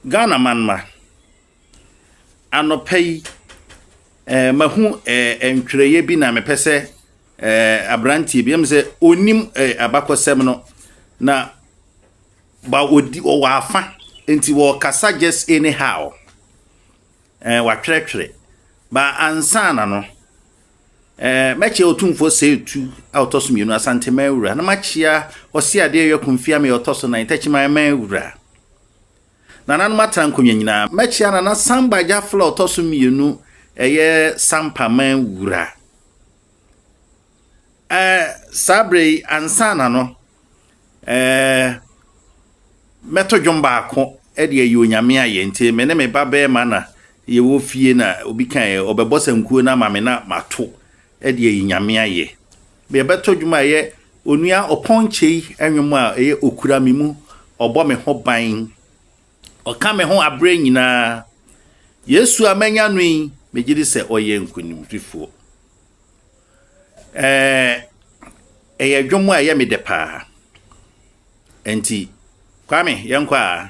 Ghana manma, anɔpa yi eh, mahu eh, ntwerɛeɛ bi na mepɛ sɛ eh, aberanteɛ bi ɛm sɛ ɔnim eh, abakɔsɛm no na ba ɔdi ɔwɔ afa nti wɔkasa just anyhow eh, watwerɛtwerɛ ba ansa na no Mɛkyea Otumfoɔ Sɛe Tu a ɔtɔ so mmienu, Asanteman Wura, na makyea Ɔse Adeɛ Wia Kumfia Mea a ɔtɔ so nan, Takyiman Man Wura. Nananom Atra Nkonnwa Nyinaa. Mɛkyea Nana Samba Gyafla a ɔtɔ so mmienu, ɛyɛ Sampa Man Wura. Ɛɛ, saa berɛ yi, ansa na no, Ɛɛ, mɛto dwom baako de ayi Onyame ayɛ. Nti me ne me ba bɛrima na yɛwɔ fie na obi ka ɛ, ɔbɛbɔ sankuo no ama me na mato de ayi Nyame ayɛ. Yɛbɛto dwom a ɛyɛ Onua Ɔpɔnkyei nnwom a ɛyɛ Okura me mu, ɔbɔ me ho ban, ɔka me ho aberɛ nyinaa. Yesu a manya no yi, megye di sɛ ɔyɛ nkonimdifoɔ. Ɛɛ, ɛyɛ dwom a ɛyɛ me dɛ paa. Nti, Kwame, yɛnkɔ a.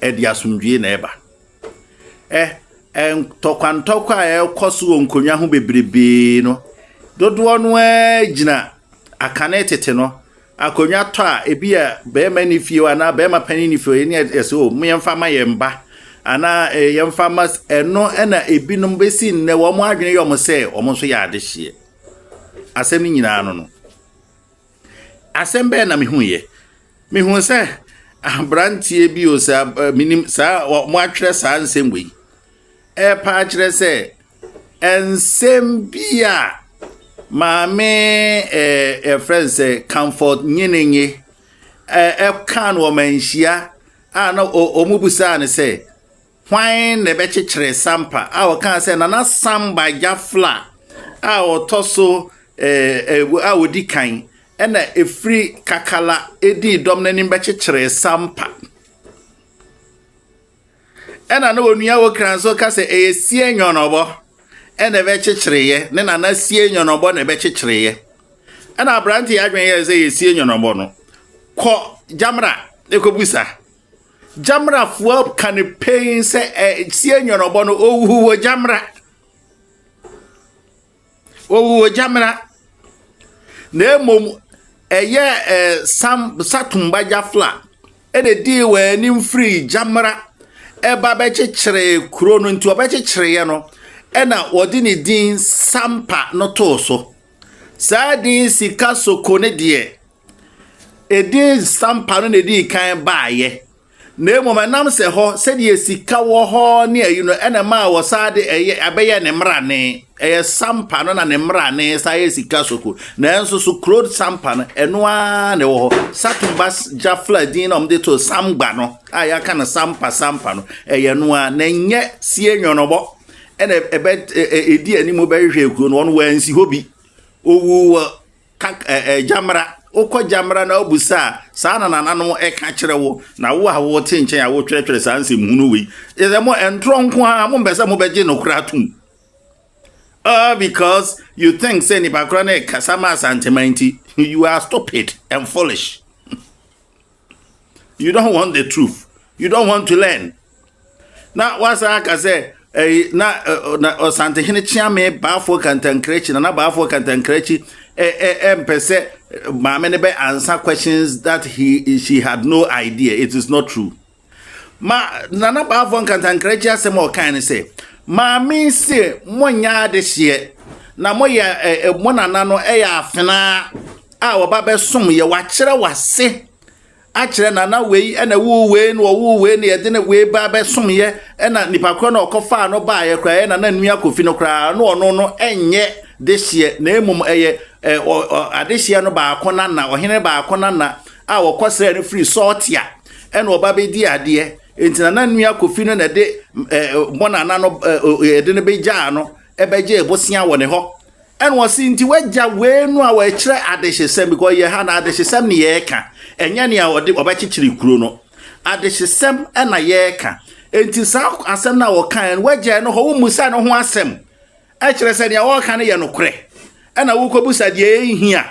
Ɛde asomdwoe na ɛba. Ɛ, ɛ, ntɔkwantɔkwa a ɛrekɔ so wɔ nkonnwa ho bebrebe no, dodoɔ no ara gyina akane tete no. Akonnwa tɔ a, ebi a barima ni fie hɔ anaa barima panin ni fie hɔ, yɛne ɛsɛ o, mo yɛmfa ma yɛn ba anaa ɛ, eh, yɛmfa ma ɛno na ebinom bɛsi nnɛ wɔn adwene yɛ wɔn sɛ wɔn nso yɛ adehyeɛ. Asɛm no nyinaa no no. Asɛm bɛn na mehuiɛ? Mehuu sɛ aberanteɛ bi o saa menim saa wɔatwerɛ saa nsɛm wei ɛrepa akyerɛ sɛ nsɛm bi a maame ɛɛ ɛfrɛ no sɛ Comfort Nyenenye ɛɛ ɛka no wɔn anhyia a na wɔn busaa no sɛ. Hwan na ɛbɛkyekyere Sampa a ɔkaa sɛ Nana Sam Bajafla a ɔtɔ so a ɔdi kan na ɛfiri Kakala dii dɔm no anim bɛkyekyeree Sampa? Ɛna na Onua Wokra nso ka sɛ ɛyɛ Sie Nyɔnɔbɔ na ɛbɛkyekyereeɛ, ne Nana Sie Nyɔnɔbɔ na ɛbɛkyekyereeɛ. Ɛna aberante yɛ adwene yɛɛ sɛ yɛ Sie Nyɔnɔbɔ no, kɔ Gyamra kɔbusa. Gyamra foɔ ka no pɛn sɛ ɛsie nyɔnɔbɔ no ɔwuhu wɔ gyamra ɔwuhu wɔ gyamra na mmom ɛyɛ ɛ sam satombagya fla ɛna ɛdii wɔn anim firi gyamra ɛba bɛkyekyere kuro no nti ɔbɛkyekyereɛ no ɛna wɔde ne din sampa no too so saa din sika soko ne deɛ Edin stampa no na edii kan baeɛ, na mmom ɛnam sɛ hɔ sɛdeɛ sika wɔ hɔ ne ayi no ɛna ɛmaa wɔsan de ɛyɛ abɛyɛ ne mmrane. Ɛyɛ stampa no na ne mmrane san yɛ sika soko. Nanso so kuro stampa no ɛno ara na ɛwɔ hɔ. Satumba Jafla din na wɔde too Samgba no a yɛaka no Sampa Sampa no ɛyɛ ɛno ara na ɛnyɛ sie nyɔnɔbɔ ɛna ɛbɛ ɛdi anim bɛhwehwɛ kuro no wɔn wɔansi hɔ bi. Ɔwu wɔ Kak ɛ ɛ Gyamra, wokɔ Gyamra na wobisa a, saa na nananom ɛka kyerɛ wo, na wo a wote nkyɛn a wotwerɛtwerɛ saa nsɛm hunu wei. Ɛsɛ mo ɛntorɔ nko ara, mompɛ sɛ mobɛgye nokorɛ atom. All because you think sɛ nipa korɔ no ɛkasa ma Asanteman nti, you are stupid and foolish. you don't want the truth you don't want to learn na wasan aka sɛ ɛyi na na ɔsantehene kyeame baafo kantankrakyi na na baafo kantankrakyi ɛ ɛ ɛmpɛ sɛ maame no bɛ answer questions that he she had no idea it is not true ma na na baafo kantankrakyi asɛm a ɔkan ne sɛ maame se mo nyɛ adehyeɛ na mo yɛ ɛ ɛ mo nana no ɛyɛ afenaa. a wɔba bɛsom yɛ wakyerɛ wase akyerɛ na na wei ɛna wuu wei na ɔwuu wei na yɛde ne wei ba bɛsom yɛ ɛna nipa korɔ na ɔkɔfaa no baa yɛ koraa ɛna na nua kofi no koraa na ɔno no ɛnyɛ dehyeɛ na mmom ɛyɛ ɛ adehyeɛ no baako na na ɔhene baako na na a wɔkɔsrɛ no firi sɔɔtea ɛna ɔba bɛdi adeɛ nti na na nua kofi no na ɛde ɛ bɔnana no ɛ yɛde no bɛgyaa no ɛbɛgye ebosia wɔ ne hɔ Ɛna ɔse nti wagya wei no a wɔkyerɛ adehyesɛm because yɛ ha no adehyesɛm ne yɛreka ɛnyɛ nea ɔde ɔbɛkyekyere kuro no adehyesɛm ɛna yɛreka nti saa asɛm no a wɔkaeɛ no wagyae no hɔ wommusa no ho asɛm ɛkyerɛ sɛ nea wɔreka no yɛ nokorɛ ɛna wokɔbusa deɛ ɛnhia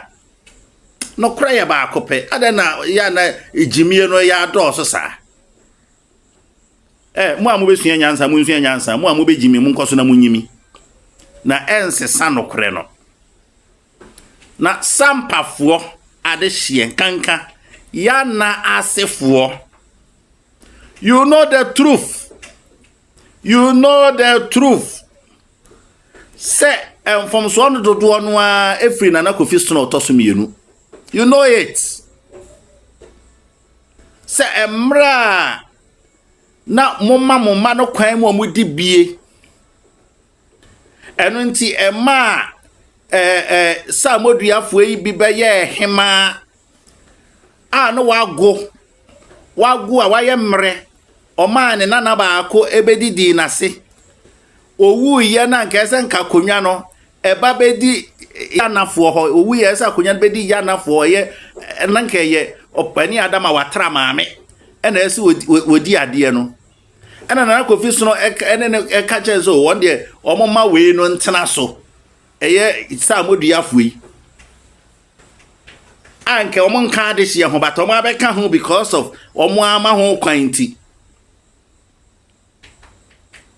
nokorɛ yɛ baako pɛ adɛn na yɛ na gyimie no yɛ adɔɔso saa Ɛ, mo a mobɛsua nyansa, monsua nyansa, mo a mobɛgyi me, monkɔ so na monyi me, na ɛnsesa nokorɛ no. Na sampafoɔ adehyeɛ nkanka yana asefoɔ. You know the truth. You know the truth. Sɛ mfomsoɔ no dodoɔ no ara ɛfiri Nana Kofi Sena ɔtɔ so mmienu. You know it. sɛ mmerɛ a na moma mo mma no kwan mu a wɔdi bie. Ɛno nti ɛmaa salmoduafoɔ yi bi bɛyɛɛ hemaa a na wago wago a wayɛ mmerɛ ɔmaa ne nana baako bɛdidii n'ase ɔwuiɛ no anka ɛsɛ nka akonnwa no ɛba bɛdi Yanafoɔ hɔ, ɔwu yɛ sɛ akonnwa no bɛdi Yanafoɔ, ɛyɛ na nka ɛyɛ ɔpani Adam a watra maame, ɛna ɛsɛ wɔdi adeɛ no. Ɛna Nana Kofi Sono ɛne no ɛka kyɛn sɛ wɔn deɛ wɔn ma wei no ntena so, ɛyɛ sɛ amoduafoɔ yi. A nka wɔn nka adehyeɛ ho, but wɔn abɛka ho because of wɔn ama ho kwan nti.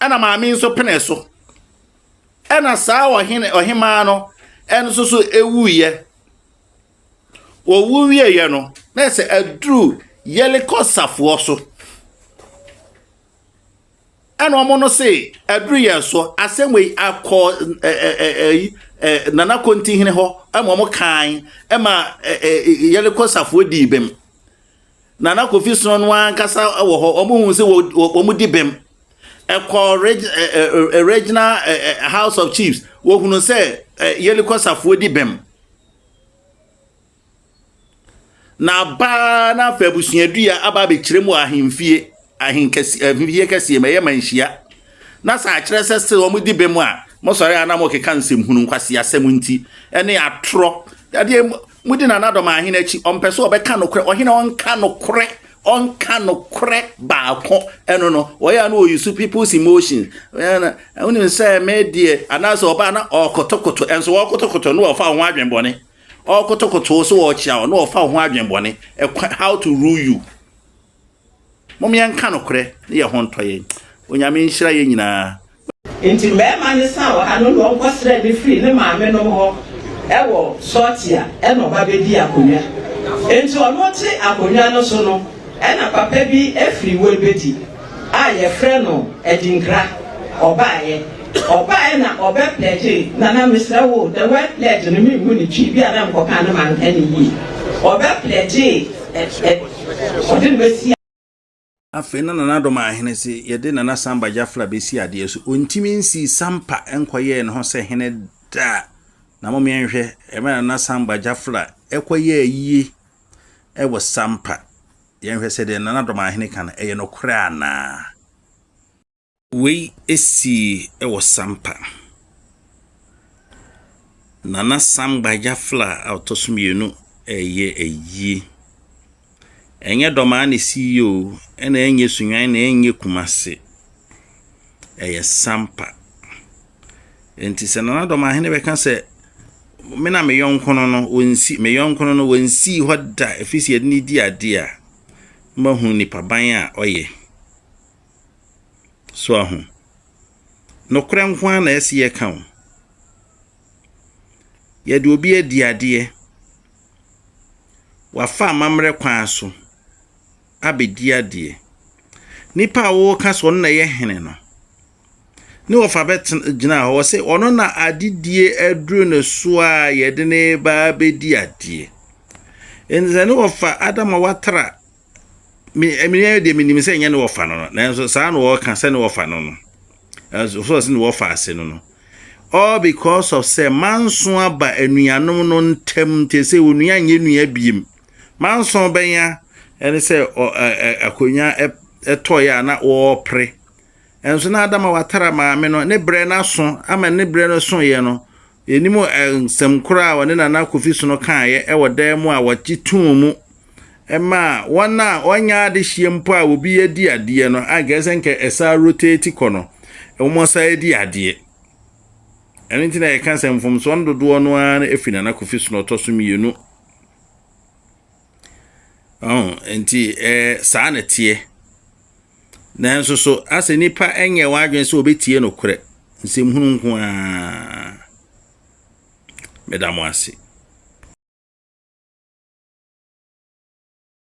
Ɛna maame nso pene so. Ɛnna saa ɔhene ɔhemmaa no nso so wuiɛ. Wɔwu wieeɛ no, na ɛsɛ aduru Yeriko safoɔ so. Ɛnna wɔn no se, aduru yɛn so, asɛm wei akɔ Nana Kontihene hɔ ma wɔn kan ma Yeriko safoɔ dii bem. Nana Kofi Sono no ankasa wɔ hɔ, wɔn hu sɛ wɔn di bem ɛkɔɔ reg ɛ ɛ regional ɛ ɛ house of chiefs wɔhunu sɛ ɛ yɛlikɔ safoɔ di bɛm na abaa na afɛ abusuadua aba abɛkyerɛ mu ahemfie ahenkɛse ahemfie kɛseɛ ma ɛyɛ manhyia na sɛ akyerɛ sɛ sɛ wɔn di bɛm a mosɔre a na mokeka nsɛmhunu nkwasi asɛm nti ɛne atorɔ ɛdeɛ Modi nanadɔm ahene akyi. Ɔmpɛ sɛ ɔbɛka nokorɛ. Ɔhene a ɔnka nokorɛ, ɔnka nokorɛ baako ɛno no, ɔyɛ a na ɔyusu people's emotion. Wonim sɛ me deɛ, anaasɛ ɔbaa na ɔɔkotokoto, ɛnso ɔɔkotokoto na ɔfa ho adwen bɔne. Ɔɔkotokoto so ɔɔkyea wo na ɔfa ho adwen bɔne. How to rule you. Mom yɛnka nokorɛ ne yɛn ho ntɔ yɛn. Onyame nhyira yɛn nyinaa. Enti mmarima no san wɔ ha no na wɔkɔsrɛɛ me firii ne maamenom hɔ wɔ Sortia na ɔba bɛdii akonnwa. Enti ɔno te akonnwa no so no na papa bi firi Webedi a yɛfrɛ no Adinkra ɔbaeɛ. Ɔbaeɛ na ɔbɛpledgee na na mesrɛ wo the word pledge no menhu no twi, bi a na mekɔka no manka no yie. Ɔbɛpledgee Ɔde no bɛsi a. Afei na Nana Adom Ahene se yɛde Nana Samba Jafra bɛsi adeɛ so. Ɔntimi nsii Sampa nkɔyɛɛ ne ho sɛ hene da. Na momeɛ nhwɛ mmerɛ a Nana Samba Jafra kɔyɛɛ yie wɔ Sampa. Yɛnhwɛ sɛ deɛ Nana Adom Ahene ka no ɛyɛ nokorɛ anaa. Wei sii wɔ Sampa. Nana Sam Gbagyafla a ɔtɔ so mmienu reyɛ ayie. Ɛnyɛ Dɔmaa na ɛsii yɛ o, ɛna ɛnyɛ Sunyani na ɛnyɛ Kumasi. Ɛyɛ Sampa. Nti sɛ Nana Dɔmahene bɛka sɛ me na me yɔnkono no wɔnsi me yɔnkono no wɔnsii hɔ da ɛfiri sɛ yɛde ne di adeɛ a, mahu nipaban a ɔyɛ. So ahu? Nokorɛ nko ara na ɛsɛ yɛka o. Yɛde obi adi adeɛ. Wafa amammerɛ kwan so abɛdi adeɛ. Nipa a wɔka sɛ ɔno na ɛyɛ hene no, ne wɔfa bɛgyina hɔ sɛ ɔno na adedie aduro ne so a yɛde ne ba bɛdi adeɛ. Ɛnti sɛ ne wɔfa Adam a watra Me me deɛ menim sɛ nyɛ ne wɔfa no no nanso saa na wɔka sɛ ne wɔfa no no ɛnso so ɔsɛ ne wɔfa ase no no all because of sɛ manso aba anuanom no ntam nti sɛ onua nyɛ nua biem manso bɛnya ɛne sɛ akonnwa ɛtɔeɛ a na wɔrepere Nanso na Adama watara maame no, ne berɛ no aso ama ne berɛ no soeɛ no, yɛnim nsɛm korɔ a ɔne Nana Kofi Sono kaeɛ wɔ dan mu a wɔgye too mu maa wɔn a wɔnyɛ adehyeɛ mpo a obi adi adeɛ no, a nkae sɛ nka ɛsaa rotate kɔ no, wɔn saa di adeɛ. Ɛno nti na yɛka sɛ mfomsoɔ no dodoɔ no ara firi Nana Kofi Sono ɔtɔ so mmienu. Ɔho nti ɛɛ saa na teɛ. Nanso so asɛ nipa nyɛ wɔn adwene sɛ wɔbɛtie nokorɛ nsɛmhunu nko ara. Meda mo ase.